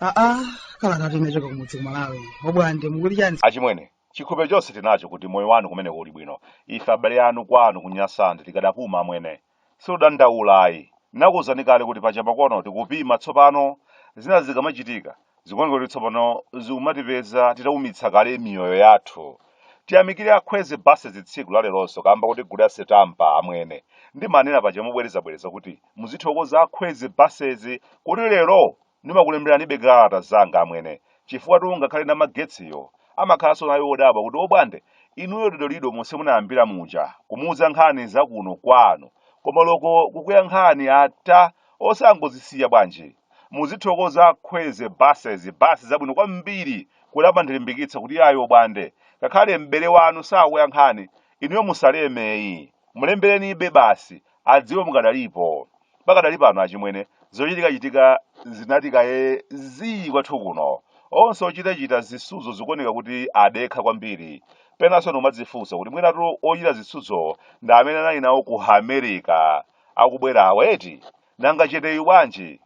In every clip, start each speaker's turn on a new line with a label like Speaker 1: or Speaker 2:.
Speaker 1: aa kalatatu inachoka kumudzi kumalawi obwande mukuti chani achimwene chikhulupiriro
Speaker 2: chonse tinacho kuti moyo wanu kumeneko uli bwino ife abale anu kwanu kunyasandi tikadapuma amwene Sitikudandaula ayi. Nakuuzani kale kuti paja makono tikupima tsopano zina zikamachitika zikuoneka kuti tsopano zikumatipeza titaumitsa kale miyoyo yathu. Tiyamikire a Kwezy Buses tsiku laleronso kamba kuti gule asetampa amwene. Ndimanena paja mobwerezabwereza kuti muzithokoza a Kwezy Buses kuti lero Ndimakulemberanibe kalata zanga amwene chifukwatu ngakhale namagetsiyo amakhalanso nayo odabwa kuti obwande inuyo dodolido monse munayambira muja kumuuza nkhani za kuno kwanu koma loko kukuyankhani ata osangozisiya bwanji? Muzithokoza Kwezy Buses, bus zabwino kwambiri kuti amandilimbikitsa kuti iyayi obwande ngakhale m'bale wanu sakuyankhani inuyo musaleme ayi mulemberenibe basi adziwe mukadalipo. Pakadali pano achimwene, zochitikachitika zinati kaye zii kwathu kuno. Onse ochitachita zisudzo zikuoneka kuti adekha kwambiri. Penanso ndikumadzifunsa kuti mwinatu ochita zisudzowo ndi amene anali nawo ku America akubwerawa eti? Nanga cheteyu bwanji?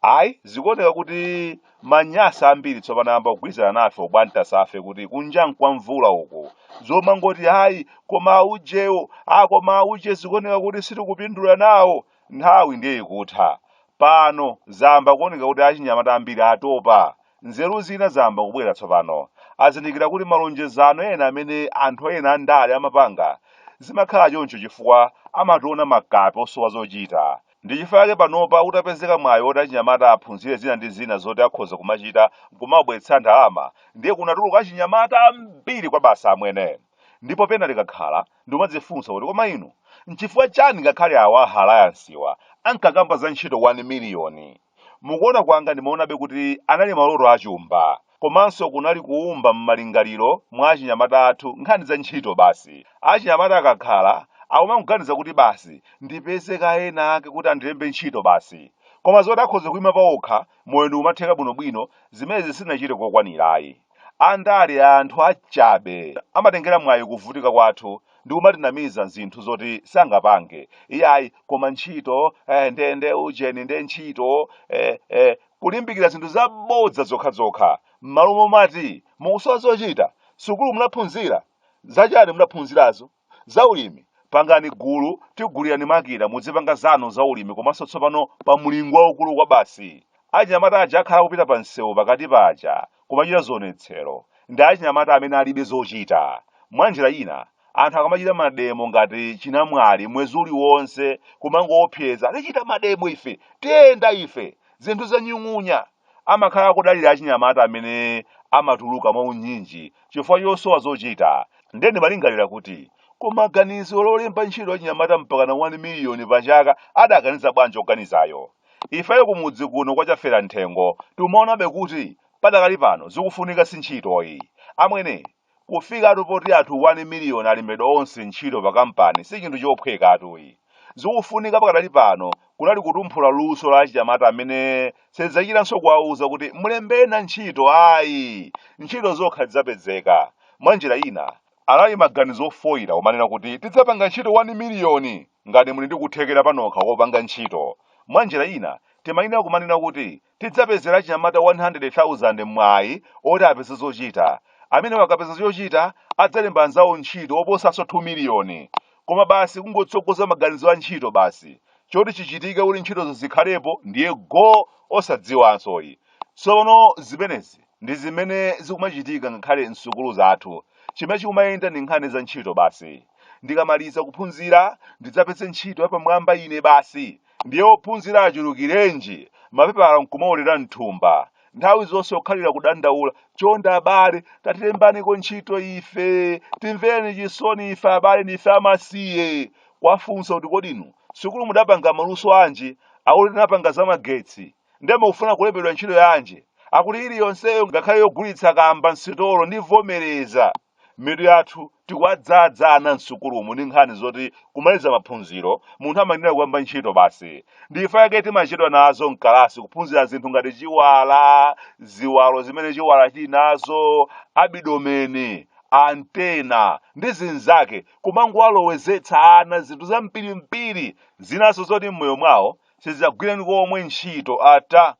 Speaker 2: Ayi, zikuoneka kuti ma Nyasa ambiri tsopano ayamba kugwirizana nafe obwantasafe kuti kunja nkwa mvula uku. Zomangoti ayi, koma aujewo, ah koma auje zikuoneka kuti sitikupindula nawo. Nthawi ndiye ikutha. Pano zayamba kuoneka kuti achinyamata ambiri atopa. Nzeru zina zayamba kubwera tsopano. Azindikira kuti malonjezano ena amene anthu ena andale amapanga zimakhala choncho chifukwa amationa makape osowa zochita. Ndi chifukwa chake panopa utapezeka mwayi woti achinyamata aphunzire zina ndi zina zoti akhoza kumachita nkumawabweretsera ndalama, ndiye kunatuluka achinyamata ambiri kwabasi amwene. Ndipo pena ndikakhala, ndikumadzifunsa kuti koma inu, nchifukwa chani ngakhale awa a Alliancewa ankakamba za ntchito 1 miliyoni, Mukuona kwanga ndimaonabe kuti anali maloto a chumba komanso kunali kuumba m'malingaliro mwa achinyamata athu nkhani za ntchito basi. Achinyamata akakhala akumangoganiza kuti basi ndipeze kaye ena ake kuti andilembe ntchito basi. Koma zoti akhoza kuima paokha, moyo ndikumatheka bwinobwino, zimenezi sitinachite kokwanira ayi. Andale anthu achabe. Amatengera mwayi kuvutika kwathu ndikumatinamiza zinthu zoti sangapange iyayi koma ntchito eh, nde nde ujeni nde ntchito eh, eh, kulimbikira zinthu zabodza zokhazokha m'malo momati mukusowa zochita sukulu munaphunzira zachani munaphunzirazo Za ulimi, Pangani gulu tigulirani makina mudzipanga zanu za ulimi komanso tsopano pa mlingo waukulu kwabasi. Achinyamata aja akhala kupita pa msewu pakati paja kumachita zionetsero ndi achinyamata amene alibe zochita. Mwa njira ina, anthu akamachita mademo ngati chinamwali mwezi uliwonse kumangoopseza tichita mademo ife, tiyenda ife, zinthu zanyung'unya. amakhala akudalira achinyamata amene amatuluka mwaunyinji chifukwa chosowa zochita. Ndiye ndimalingalira kuti, Koma ganizo lolemba ntchito achinyamata mpakana 1 miliyoni pachaka adaganiza bwanji woganizayo? Ifeyo kumudzi kuno kwa Chaferamthengo timaonabe kuti padakali pano zikufunika si ntchitoyi. Amwene, Kufikatu poti anthu 1 miliyoni alembedwa onse ntchito pa kampani si chinthu chophwekatu yi. Zikufunika pakadali pano kunali kutumphula luso la achinyamata amene sadzachitanso kuwauza kuti mulembena ntchito ayi, ntchito zokha zidzapedzeka. Mwa njira ina, anali maganizo ofoira omanena kuti tidzapanga ntchito 1 miliyoni ngati muli ndi kuthekera panokha kopanga ntchito. Mwa njira ina, timayenera kumanena kuti Tidzapezera achinyamata 100,000 mwayi woti apeze zochita. Amenewa akapeza chochita, adzalemba anzawo ntchito oposanso 2 miliyoni. Koma basi kungotsogoza maganizo a ntchito basi. Choti chichitike kuti ntchitozo zikhalepo ndiye go osadziwanso yi. Tsono zimenezi ndi zimene zikumachitika ngakhale m'sukulu zathu. Chimene chikumayenda ndi nkhani za ntchito basi. Ndikamaliza kuphunzira ndidzapeze ntchito yapamwamba ine basi. Ndiye ophunzira achulukirenji, mapepala nkumaolera m'thumba, nthawi zonse okhalira kudandaula, chonde abale, tatilembaniko ntchito ife, timvereni chisoni ife abale, ndife amasiye! Kuwafunsa kuti kodi inu sukulu mudapanga maluso anji? Akuti tinapanga za magetsi. Ndiye mukufuna kulembedwa ntchito yanji? Akuti iliyonseyo ngakhale yogulitsa kamba m'sitolo ndivomereza. mitu yathu tikuwadzadza ana msukulumu ndi nkhani zoti kumaliza maphunziro munthu amayenera kuyamba ntchito basi ndi chifukwa chake timachedwa nazo mkalasi kuphunzira zinthu ngati chiwala ziwalo zimene chiwala chili nazo abidomeni antena ndi zinzake kumangowalowezetsa ana zinthu zampirimpiri zinaso zoti m'moyo mwawo sizagwireni komwe ntchito ata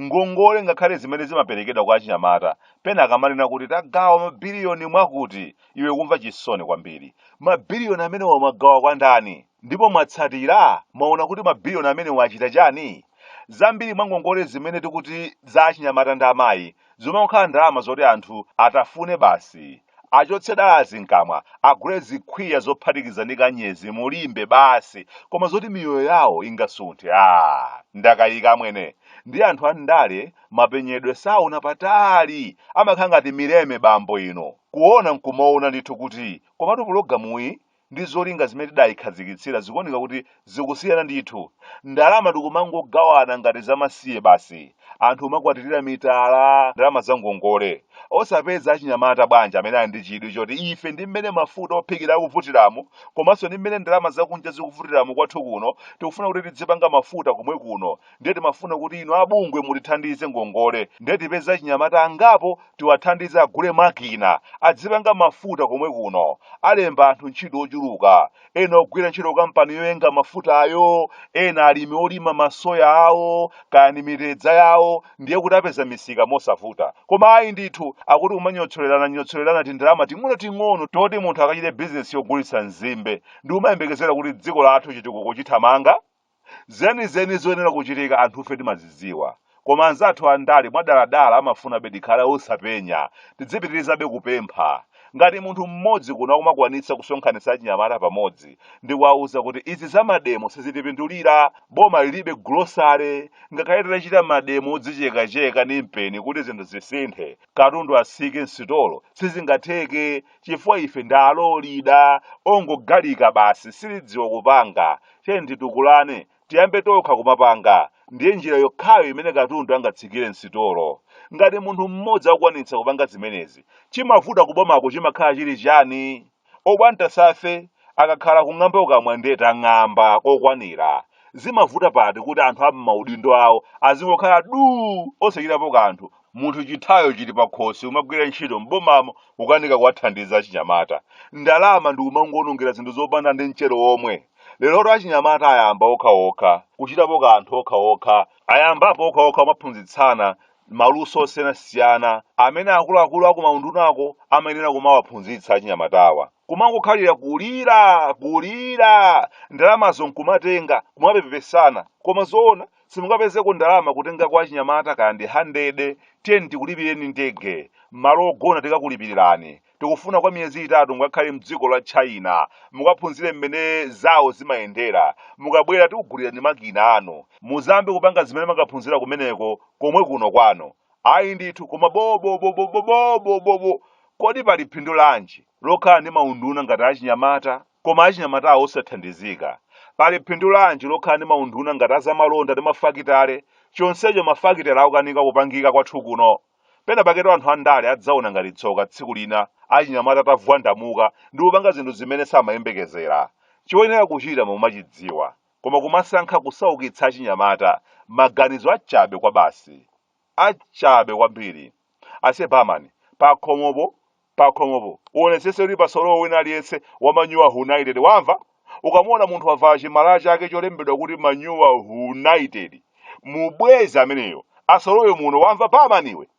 Speaker 2: Ngongole ngakhale zimene zimaperekedwa kwa achinyamata, pena akamanena kuti tagawa mabiliyoni mwakuti, iwe kumva chisoni kwambiri. Mabiliyoni amenewa mwagawa kwa ndani? Ndipo mwatsatira, mwaona kuti mabiliyoni amenewa achita chiyani? Zambiri mwa ngongole zimene tikuti za achinyamata ndi amayi, zomangokhala ndalama zoti anthu atafune basi achotse dalazi mkamwa agule zikhwiya zophatikiza ndi kanyezi mulimbe basi koma zoti miyoyo yawo ingasunthe a ndakayika amwene ndi anthu andale mapenyedwe saona patali amakhala ngati mileme bambo ino kuona nkumaona ndithu kuti komatu pulogalamuyi ndi zolinga zimene tidayikhazikitsira zikuoneka kuti zikusiyana ndithu ndalama tikumangogawana ngati zamasiye basi anthu kumakwatirira mitala ndalama za ngongole osapeza achinyamata bwanji amene ali ndi chidwi choti ife ndi mmene mafuta ophikira akuvutiramu komanso ndi mmene ndalama zakunja zikuvutiramu kwathu kuno tikufuna kuti tidzipanga mafuta komwe kuno ndiye timafuna kuti inu abungwe mutithandize ngongole ndiye tipeze achinyamata angapo tiwathandize agule makina adzipanga mafuta komwe kuno alemba anthu ntchito ochuluka ena ogwira ntchito kukampani yoyenga mafutayo ena alimi olima masoya awo kaya ni mitedza yawo ndiye kuti apeza misika mosavuta koma ayi ndithu akuti kumanyotsolerana nyotsolerana tindalama ting'ono ting'ono toti munthu akachite bizinesi yogulitsa nzimbe ndi kumayembekezera kuti dziko lathu chitukuko chithamanga Zenizeni zoyenera kuchitika anthufe timazidziwa. Koma anzathu andale mwadaladala amafunabe tikhale osapenya. Tidzipitirizabe kupempha. Ngati munthu mmodzi kuno akumakwanitsa kusonkhanitsa achinyamata pamodzi ndi kuwauza kuti izi za mademo sizitipindulira, boma lilibe grocery, ngakhale titachita mademo odzichekacheka ndi mpeni kuti zinthu zisinthe, katundu atsike m'sitolo, sizingatheke chifukwa ife ndi aolida, ongogalinga basi, sitidziwa kupanga, tiyeni titukulane tiyambe tokha kumapanga ndiye njira yokhayo imene katundu angatsikire msitolo ngati munthu mmodzi akukwanitsa kupanga zimenezi chimavuta kubomako chimakhala chili chani obwata ngati ife akakhala kung'amba ukamwa ndiye tang'amba kokwanira zimavuta pati kuti anthu a m'maudindo awo azingokhala duu osachitapo kanthu munthu chitayo chili pakhosi kumagwira ntchito m'bomamo kukanika kuwathandiza achinyamata ndalama ndi kumangoonongera zinthu zopanda ndi mchere omwe lerotu achinyamata ayamba okhaokha kuchitapo kanthu okhaokha ayambapo okhaokha kumaphunzitsana maluso osiyanasiyana amene akuluakulu akumaundunako amayenera kumawaphunzitsa achinyamatawa kumangokhalira kulira kulira ndalamazo nkumatenga kumapepesana koma zoona simungapezeko ndalama kutenga kwa achinyamata kaya ndi handede tiyeni tikulipireni ndege malo ogona tikakulipirirani tikufuna kwa miyezi itatu mukakhale mdziko la china mukaphunzire mmene zawo zimayendera mukabwera tikugulirani makina anu mudzayambe kupanga zimene mwakaphunzira kumeneko komwe kuno kwanu Ayi ndithu, koma bobobobobobobobobo! Kodi pali phindu lanji lokhala ndi maunduna ngati achinyamata koma achinyamatawo osathandizika? Pali phindu lanji lokhala ndi maunduna ngati azamalonda ndi mafakitale, chonsecho mafakitale akukanika kupangika kwathu kuno? Penapaketu anthu andale adzaona ngati tsoka tsiku lina achinyamata atavwandamuka ndi kupanga zinthu zimene samayembekezera. Choyenera kuchita mumachidziwa, koma kumasankha kusaukitsa achinyamata maganizo achabe kwabasi achabe kwambiri ase barman pakhomopo pakhomopo uonetsese kuti pasalowe wina aliyense wa manyuwa united wamva ukamuona munthu wavala chimalaya chake cholembedwa kuti manyuwa united umubweze ameneyo asalowe muno wamva barman iwe